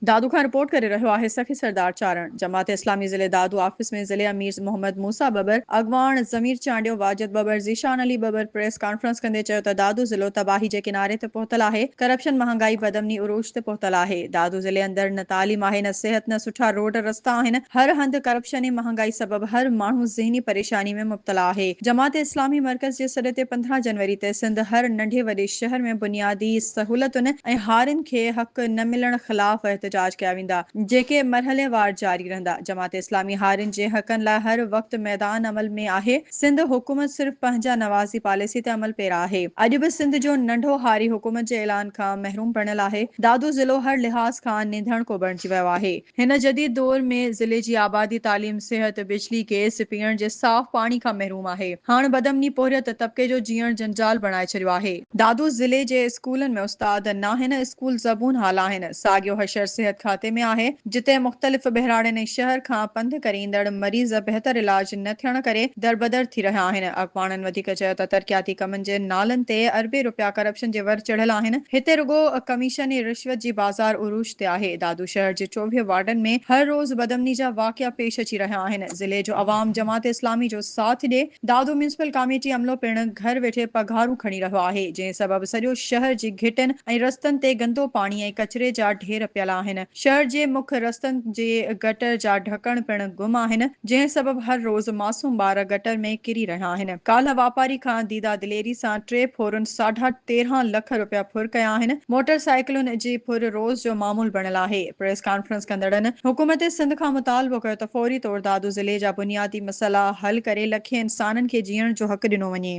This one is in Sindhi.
دادو کان رپورٽ ڪري رهيو آهي سخي سردار چارڻ. جماعت اسلامي ضلعي دادو آفيس ۾ ضلعي امير محمد موسيٰ ٻٻر، اڳواڻ ضمير چانڊيو، واجد ٻٻر، ذيشان علي ٻٻر پريس ڪانفرنس ڪندي چيو ته دادو ضلعو تباهي جي ڪناري تي پهتل آهي، ڪرپشن مهانگائي بدامني عروج تي پهتل آهي، دادو ضلعي اندر نه تعليم آهي نه صحت نه سٺا روڊ رستا آهن، هر هنڌ ڪرپشن ۽ مهانگائي سبب هر ماڻهو ذهني پريشاني پريشاني ۾ مبتلا آهي. جماعت اسلامي مرڪز جي سڏ تي پندرهن جنوري تي سنڌ هر ننڍي وڏي شهر ۾ بنيادي سهولتن ۽ هارين کي حق نه ملڻ خلاف احتجاج ڪيا ويندا جيڪي مرحليوار جاري رهندا جماعت اسلامي هارين جي حقن لاء هر وقت ميدان عمل ۾ آهي سنڌ حڪومت صرف پنهنجا نوازي پاليسي تي عمل پيرا آهي اڄ به سنڌ جو ننڍو هاري حڪومت جي اعلان کان محروم بڻيل آهي دادو ضلعو هر لحاظ کان نينڌڻ ڪو بڻجي ويو آهي. هن جديد دور ۾ ضلعي جي آبادي، تعليم، صحت، بجلي، گئس، پيئڻ جي صاف پاڻي کان محروم آهي. هاڻ بدامني پورهيت طبقي جو جيئڻ جنجال بڻائي ڇڏيو آهي. دادو ضلعي جي اسڪولن ۾ استاد ناهن، اسڪول زبون حال آهن. ساڳيو حشر صحت کاتي ۾ آهي، جتي مختلف ٻهراڙين ۽ شهر کان پنڌ ڪري ايندڙ مريض بهتر علاج نه ٿيڻ ڪري دربدر ٿي رهيا آهن. اڳواڻن وڌيڪ چيو ته ترقياتي ڪمن جي نالن تي اربين رپيا ڪرپشن جي ور چڙهيل آهن، هتي رڳو ڪميشن ۽ رشوت جي بازار عروج تي آهي. دادو شهر جي چوويهه وارڊن ۾ هر روز بدامني جا واقعا پيش اچي رهيا آهن، ضلعي جو عوام جماعت اسلامي جو ساٿ ڏئي، دادو ميونسپل ڪاميٽي عملو پڻ گهر ويٺي پگهارون کڻي رهيو آهي، جنهن سبب سڄو شهر جي گهٽن ۽ رستن تي گندو پاڻي ۽ ڪچري جا ڍير پيل آهن، شهر جي مک رستن جي گٽر جا ڍڪڻ پڻ گم آهن. جنهن سبب هر روز معصوم ٻار گٽر ۾ ڪري رهيا آهن، ڪالهه واپاري کان ديده دليري سان ٽي ڦورن ساڍا تيرهن لک رپيا ڦر ڪيا آهن، موٽر سائيڪلن جي ڦر روز جو معمول بڻيل آهي، پريس ڪانفرنس ڪندڙن حڪومت سنڌ کان مطالبو ڪيو ته فوري طور دادو ضلعي جا بنيادي مسئلا حل ڪري لکين انسانن کي جيئڻ جو حق ڏنو وڃي.